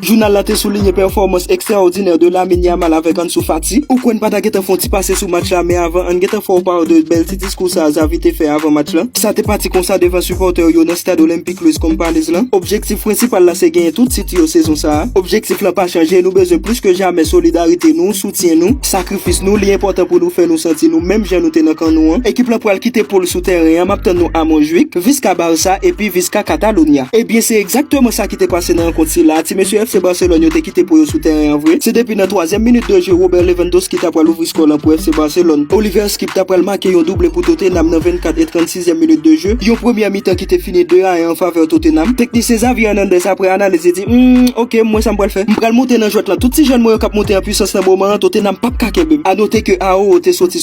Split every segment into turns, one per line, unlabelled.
Jounal la te soulinye pèfòmans ekstraòdinè de Lamine Yamal avèk Ansu Fati. Ou kwè n pa ta gentan fè yon ti pase sou match la men avan ann gentan fè w pa w de bèl ti diskou sa a Xavi te fè avan match la. Sa te pati konsa devan sipòtè yo nan stad Olympique Louis Companys lan. Objektif prensipal la se genyen tout tit yo sezon sa a. Objektif lan pa chanje, nou bezwen plis ke jamè solidarite nou, soutyen nou, sakrifis nou, li enpòtan pou nou fè nou santi nou menm jan nou te nan kan nou an. Ekip lan pral kite poul sou tèren an, m ap tann nou a Montjuïc, Visca Barça epi Visca Catalunya. Ebyen se egzakteman sa ki te pase nan rankont sila a, ti mesye FC Barcelone yo te kite po yo sou tèren an vre. Se depi nan twazyèm minit de je Robert Lewandowski ta pral ouvri skò lan pou FC Barcelone. Oliver Skipp ta pral make yon double pou Tottenham nan 24 e 36 zièm minit de je, yon premyè mitan ki te fini 2 a 1 an favè Tottenham. Teknisyen Xavi Hernandez aprè analiz li di, Humm, ok, m wè sa m pral fè. M pral monte nan jwèt lan. Tout ti jèn mwen yo k ap monte an pwisans nan moman an, Tottenham p ap ka kenbe m. A note ke Aouo te soti.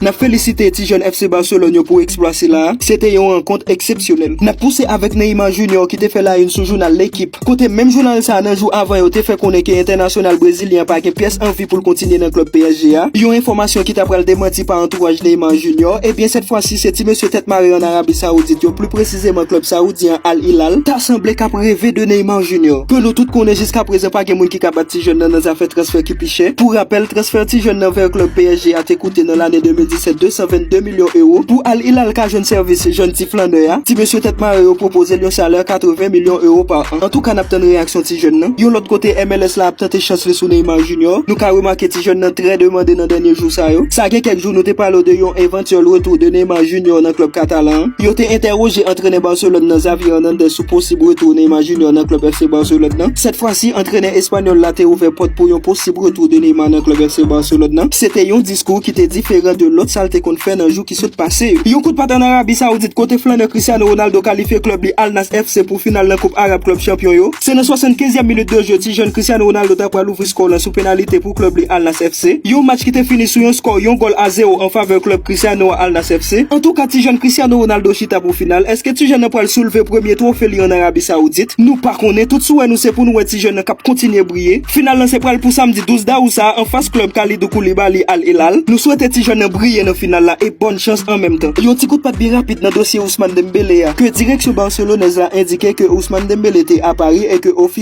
Nap felisite ti jèn FC Barcelone yo pou eksplwa sila a, se te yon rankont eksepsyonèl. Nap pouse avèk Neymar Junior ki te fè la yn sou jounal L'Equipe, kote menm jounal sa a nan jou avan yo te fè konnen ke entènasyonal brezilyen an pa gen pyès anvi pou l kontinye nan klub psg a, yon enfòmasyon ki ta pral demanti pa antouraj Neymar Junior, ebyen sèt fwa si se ti mesye tèt mare an Arabi Saoudit yo, pli presizeman klub saoudyen an Al Hilal, ta sanble kap reve de Neymar Junior, ke nou tout konnen jiska prezan pa gen moun ki ka bat ti jèn nan nan zafè transfè. pi chè. Pou rapèl, transfè ti jèn nan vè klub psg a te koute nan lane 2017 222 milyon ewo. Pou Al Hilal ka jwenn sèvis jèn ti flannè a, ti mesye tèt mare yo pwopoze l yon salè 80 milyon ewo pa an. Antouka n ap tann reyaksyon ti jèn nan. Yon lòt kote, MLS la ap tante chans li sou Neymar Junior. Nou ka remake ti jèn nan trè demande nan dènye jou sa yo. Sa gen kèk jou nou te pale w de yon. Seul retour de Neymar Junior nan klub katalan an. Yo te entèroje antrenè Barcelone nan Xavi Hernandez sou posib retour Neymar Junior nan klub FC Barcelone nan. Sèt fwa si antrenè espanyòl la te ouvè pòt pou yon posib retour de Neymar nan klub FC Barcelone nan. Se te yon diskou ki te diferan de lòt sa l te konn fè nan jou ki sot pase yo. Yon kout pat an Arabi Saoudit kote flannè Cristiano Ronaldo kalifye klub li Al Nassr FC pou final nan koup Arab klub chanpyon yo. Se nan 75 yèm minit de jeu ti jèn Cristiano Ronaldo ta pral ouvri skò lan sou penalite. pou klub li Al Nass FC, yon match ki te fini sou yon skò yon gòl a zewo an favè klub Cristiano a Al Nass FC. Antouka ti jèn Cristiano Ronaldo chita pou final, eske ti jèn nan pral soulve premye twofe li an Arabi Saoudit? Nou pa konnen, tout souwè nou se pou nou wè ti jèn nan kap kontinye briye. Final lan se pral pou samdi 12 dawou sa a an fas klub Kalidou Koulibaly Al Hilal. Nou swete ti jèn nan briye nan final la e bòn chans an menm tan. Yon ti kout pat byen rapid nan dosye Ousmane Dembélé a, ke direksyon Barcelonèz la endike ke Ousmane Dembélé te a Paris e ke ofi.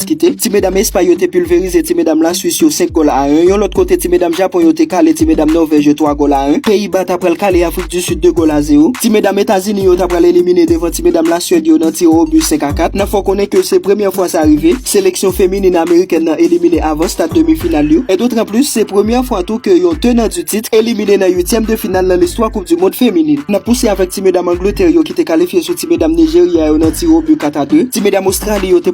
kite. Ti medam Espay yo te pilverize ti medam La Swis yo 5 gòl a 1. Yon lòt kote, ti medam Japon yo te kale ti medam Nòvèj yo 3 gòl a 1. Peyi Ba ta pral kale Afrik di Sid 2 gòl a 0. Ti medam Etazini yo ta pral elimine devan ti medam La Suèd yo nan tire o but 5 a 4. Nan fè w konnen ke se premyè fwa sa rive, seleksyon feminin amerikèn nan elimine avan stad demi final yo. E d'autant plus, se premyè fwa tou ke yon tenant du titre elimine nan uityèm de final nan listwa koup du mond feminin. N ap pouse avèk ti medam Angletè yo ki te kalifye sou ti medam Nijerya yo nan tire o but 4 a 2. Ti medam Ostrali yo te.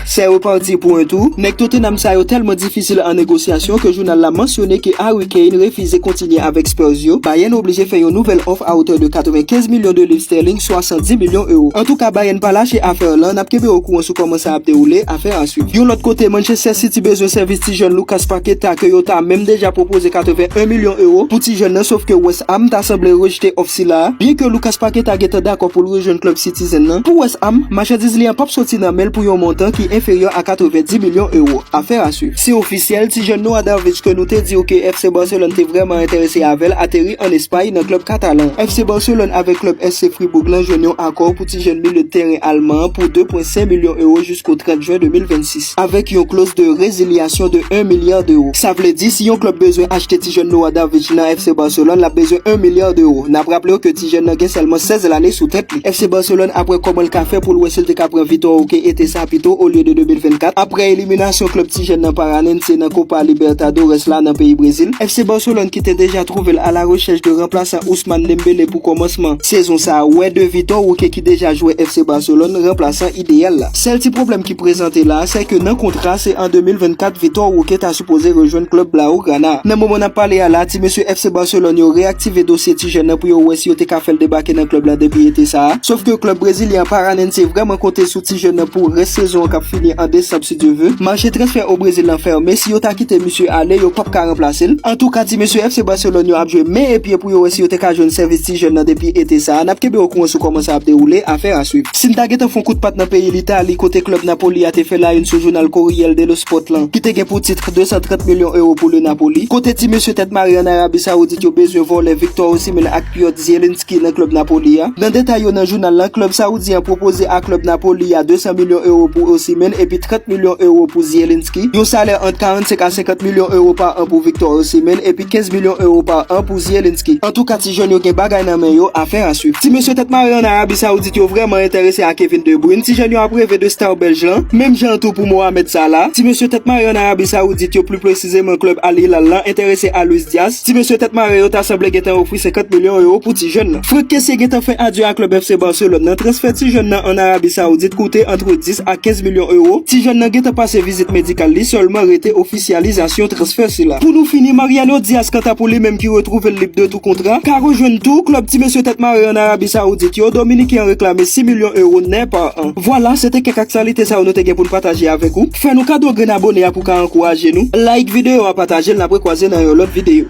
Sè yo pa di pwen tou, nèg Tottenham sa yo tèlman difisil an negosyasyon ke jounal la mansyone ke Harry Kane refize kontinye avèk Spurs yo, Bayern oblije fè yon nouvèl òf a otè de 95 milyon de liv sterling, 70 milyon ewo. Antouka Bayern pa lache afè lan, nap kenbe o kouran sou kòman sa ap dewoule, afè a swiv. Yon lòt kote, Manchester City bezwen sèvis ti jèn Lucas Paqueta ke yo ta menm deja pwopoze 81 milyon ewo pou ti jèn nan sof ke West Ham ta sanble rejte òf sila a, byen ke Lucas Paqueta gentan dakò pou l rejwenn klub City. zen nan pou West Ham, machandiz li an pap soti nan men l pou yon montan ki enferyè a 90 milyon ewo. Affaire à suivre. Se ofisyèl, ti jèn nou Adarvic ke nou te di w ke FC Barcelone te vrèman enterese avè l ateri an Espay nan klub katalan. FC Barcelone avèk klub SC Fribourg lan jwenn yon akò pou ti jèn milye de tèren alman an pou 2,5 milyon ewo jisko 30 jen 2026. avèk yon kloz de rezilyasyon de 1 milya dewo. Sa vle di, si yon klub bezwen achte ti jèn Noah Davic nan FC Barcelone, lap bezwen 1 milya dewo. Nap raple w ke ti jèn nan gen sèlman 16 lane sou tèt li. FC Barcelone ap wè kòman l ka fè pou l wè si l te ka pran Vitor Roque ete sa pito olye de 2024, aprè eliminasyon klub ti jèn nan Paranense nan Copa Libertadores la nan peyi Brezil. FC Barcelone ki te deja twouve l alarechèch de ranplasan Ousmane Dembele pou kòmansman sezon sa a, wè de Vitor Roque ki deja jwè FC Barcelone, ranplasan. ideyal la. Sèl ti pwoblèm ki prezante la a, sèke nan kontra se an 2024 Vitor Roque ta sipoze rejwenn klub Blaugrana a. Nan moman n ap pale a la a, ti mesye FC Barcelone yo reyaktive dosye ti jèn nan pou yo wè si yo te ka fè l debake nan klub la depi ete sa a. Sof ke klub brezilyen an Paranense vrèman konte sou ti jèn nan pou rès sezon an k ap fini an desanm si Dye ve. Mache transfè o Brezil lan fèmen, si yo ta kite misye ale, yo p ap ka ranplase l. Antouka ti mesye FC Barcelone yo ap jwe men e pye pou yo wè si yo te ka jwenn sèvis ti jèn nan depi ete sa a. N ap kenbe okouran sou kòman sa ap dewoule, afè a swiv. Si n ta gentan fon kout pat nan peyi Litali kote klèb Napoli a te fè la yn sou jounal Corriel dello Sport lan ki te gen pou titr 230 milyon ewo pou le Napoli, kote ti mesye tèt mare an Arabi Saoudit yo bezwen vòlè Victor Osimhen ak Piotr Zielinski nan klèb Napoli a. Nan detay yo nan jounal lan, klèb Saoudyen an pwopoze a klèb Napoli a 200 milyon ewo pou Osimhen epi 30 milyon ewo pou Zielinski, yon salè ant 45 a 50 milyon ewo pa an pou Victor Osimhen epi 15 milyon ewo pa an pou Zielinski. Antouka, Ti jèn yo gen bagay nan men yo, afè a swiv. Ti mesye tèt mare an Arabi Saoudit yo vrèman enterese a Kevin De Bruyne, ti jèn yo ap reve de star Bèlj lan, menm jan tou pou Mohamed Salah. Ti mesye tèt mare an Arabi Saoudit yo, pli presizeman klèb Al Hilal lan, enterese a Luis Diaz. Ti mesye tèt mare yo ta sanble gentan ofri 50 milyon ewo pou ti jèn lan. Frenk Kessié gentan fè adye a klèb FC Barcelone lan, transfè ti jèn lan an Arabi Saoudit koute antre 10 a 15 milyon ewo. Ti jèn lan gentan pase vizit medikal li, sèlman rete ofisyèl. Ofisyalizasyon transfè sila. Pou nou fini, Mariano Diaz kanta pou li menm ki retwouve l lib de tou kontra, ka rejwenn tou klub ti mesye tèt mare an Arabi Saoudit yo, Dominiken an reklame 6 milyon euro nè pa an. Vwala, se te kèk aktyalite sa yo nou te gen pou n pataje avèk ou. Fè nou kado grenn abone a pou w ka ankouraje nou. Like videyo a, pataje l n ap rekwaze nan yon lòt videyo.